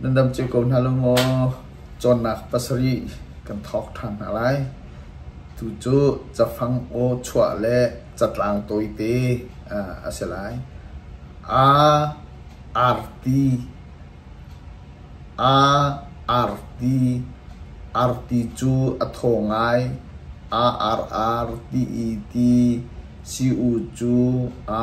Nan dam cio ko hna lo maw? Cawnnak pasarih kan thawk ṭhan hna lai. Tu cu cafang aw chuah le catlang tawite a si lai. A, arti, a, arti, arti cu a thaw ngai. A, ar, ar, ti, i, ti. Si, u, cu, a.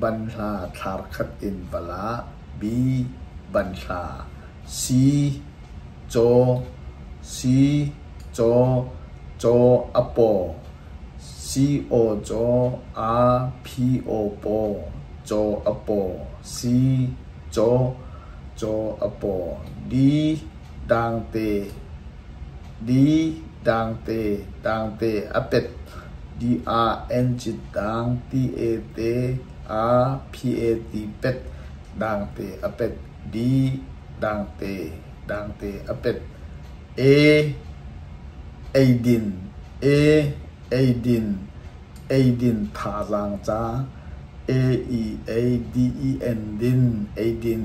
banhla thlar khat in va la; b. banhla, c. caw, c. caw, caw a paw, c. aw caw, a ph aw paw, caw a paw, c. caw, caw a paw, d. dangte. Di dangte dangte a pet dih ah encit dang ti-e te a phi-e ti pet dangte a pet di dangte dangte a pet e eidin e eidin eidin thazaang ca e i ei di i en din eidin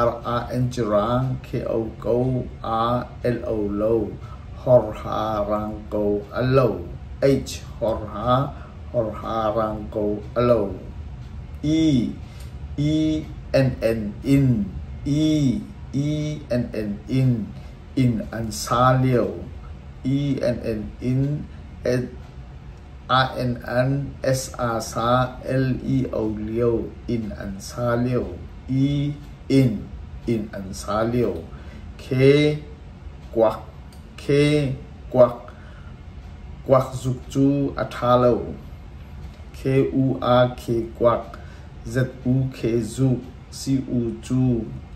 Ar ah encirang kheo ko aa el lo, horha rang ko a lo, eich horha horha rang ko a lo, i i enn in i i enn in inn an sa lio, i enn in inn. INNSASA LEO lio inn an sa lio i inn inn an sa lio khe kuak khe kuak kuak zuk cu a ṭha lo khe u a khe kuak zu khe zuk Sii-ung cu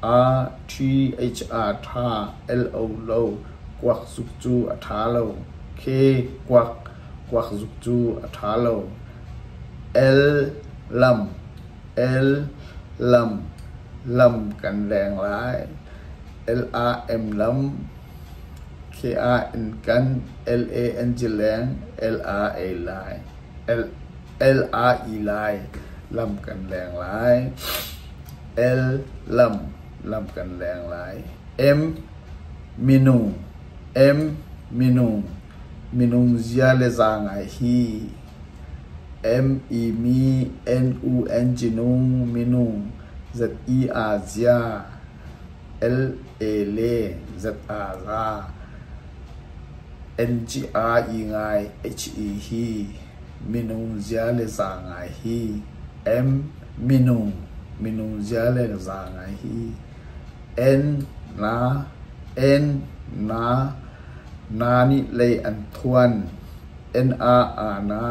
a ṭhir ṭha lo lo kuak zuk cu a ṭha lo khe kuak zuk cu a ṭha lo. El lam el lam lam kan veng lai. L-a-m lam khe-ah in kan L-a-n zileng L-a ei lai. El-a-i lai lam kan leng lai. El-lam lam kan leng lai. Em minung em minung minung zia le za ngai hi em i mi n u n jinung minung zat i aa zia. LA le ZA ra NGI ngai HE hi minung zia le za ngai hi minung minung zia le za ngai hi N na N na na nih lei an thuan NA a na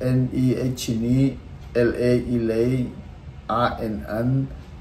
NEH nih LA i lei a in an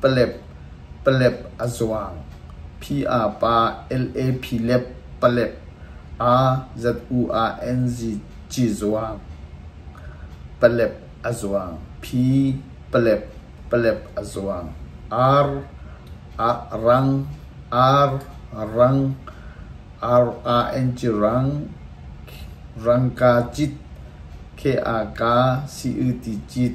palep a zuang, phi aa pa LAP lep palep aa ZU ah NZ ci zuang, palep a zuang, phi palep palep a zuang, ar ah rang, ar rang, RANG rang, rangka cit, KAK CUT cit.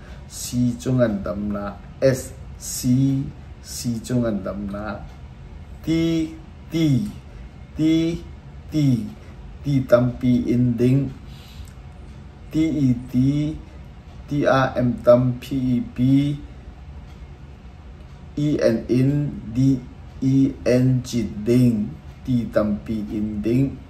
C cu ngandamnak, SC C cu ngandamnak, T T T T ti tampi in ding, TET TRM tam PEP EN in DEN cit ding ti tampi in ding.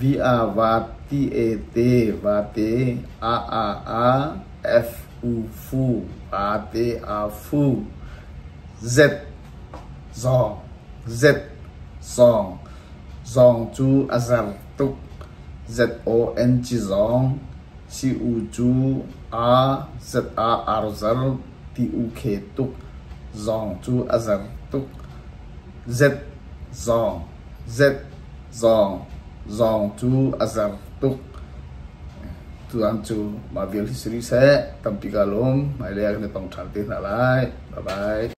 Vi a vaat ti e te vate a a a f u fu a te a fu z zong z zong zong cu a zer tuk z o n ci zong si u cu a z a ar zer ti u khe tuk zong cu a zer tuk z zong. Zet zong zong cu a zer tuk. Tuan cu mah vial hi si rih seh. Tampi kaa lum. Hmailei ah kan i tong ṭhan te hna lai. Bye bye.